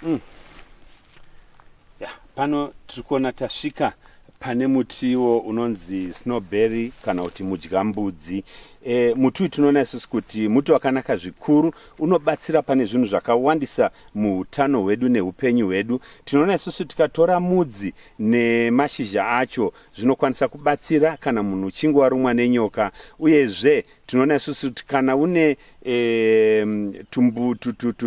Mm. Yeah, pano tiri kuona tasvika pane mutiwo unonzi snowberry kana kuti mudyambudzi e, muti uyu tinoona isusu kuti muti wakanaka zvikuru unobatsira pane zvinhu zvakawandisa muutano hwedu neupenyu hwedu tinoona isusu tikatora mudzi nemashizha acho zvinokwanisa kubatsira kana munhu uchinge warumwa nenyoka uyezve tinoona isusu kuti kana une e, tumbu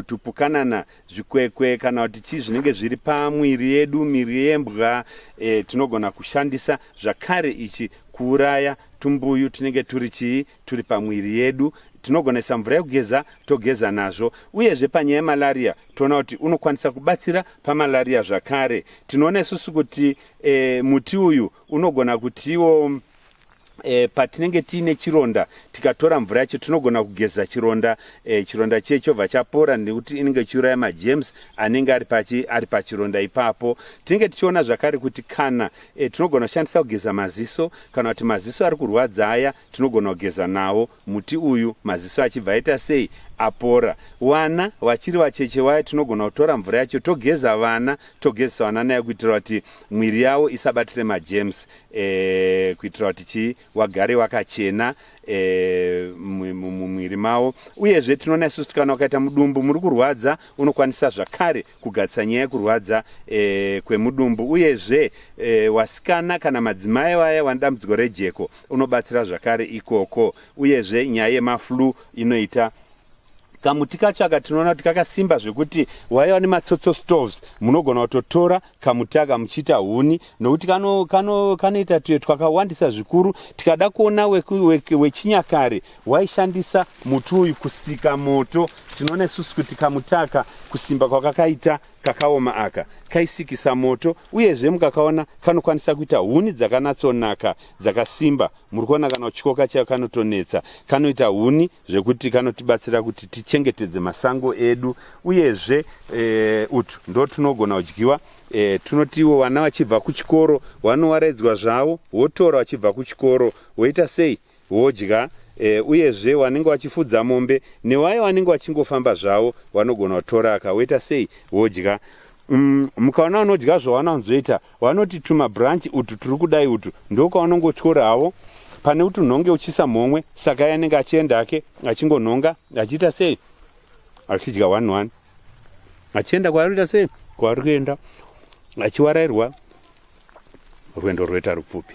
tupukanana zvikwekwe kana kuti chii zvinenge zviri pamwiri yedu miri yembwa e, tinogona kushandisa zvakare ichi kuuraya tumbuyu tunenge turi chii turi pamwiri yedu tinogonesa mvura yekugeza togeza nazvo uyezve panyaya yemalaria toona kuti unokwanisa kubatsira pamalaria zvakare tinoona isusu kuti e, muti uyu unogona kutiwo E, patinenge tiine chironda tikatora mvura yacho tinogona kugeza chironda e, chironda chiye chobva chapora nekuti inenge ichiuraya majems anenge ari pachi ari pachironda ipapo tinenge tichiona zvakare kuti kana e, tinogona kushandisa kugeza maziso kana kuti maziso ari kurwadza aya tinogona kugeza nawo Muti uyu maziso achibva aita sei apora. Wana wachiri vacheche waya tinogona kutora mvura yacho togeza vana togezesa vana nayo kuitira kuti mwiri yawo isabatire majems e, kuitira kuti chii wagare wakachena e, mumwiri mawo uyezve tinoona isusu tikana wakaita mudumbu muri kurwadza unokwanisa zvakare kugadzisa nyaya yekurwadza e, kwemudumbu uyezve e, wasikana kana madzimai vaya vane dambudziko rejeko unobatsira zvakare ikoko uyezve nyaya yemaflu inoita kamuti kacho aka tinoona kuti kakasimba zvekuti waiva nematsotso stoves munogona kutotora kamuti aka muchiita huni nokuti kanoita tuye twakawandisa zvikuru tikada kuona wechinyakare Waishandisa muti uyu kusika moto. Tinoona isusu kuti kamutaka kusimba kwakakaita kakaoma aka kaisikisa moto, uyezve mukakaona kanokwanisa kuita huni dzakanatsonaka dzakasimba. Muri kuona kana uchikoka chayo kanotonetsa, kanoita huni zvekuti kanotibatsira kuti tichengetedze masango edu, uyezve e, utu ndo tunogona kudyiwa e, tunotiwo vana vachibva kuchikoro vanowaraidzwa zvavo wotora vachibva kuchikoro woita sei wodya e, uyezve wanenge wachifudza mombe newaye wanenge wachingofamba zvawo wanogona kutora akawaita sei wodya mm, mukaona unodya zvawana unzoita wanoti tuma branch utu turi kudai utu ndokwaunongotyora hawo pane kuti unhonge uchisa mhomwe saka ye anenge achienda hake achingonhonga achiita sei achidya one one achienda kwaari kuita sei kwaari kuenda achiwarairwa rwendo rwoita rupfupi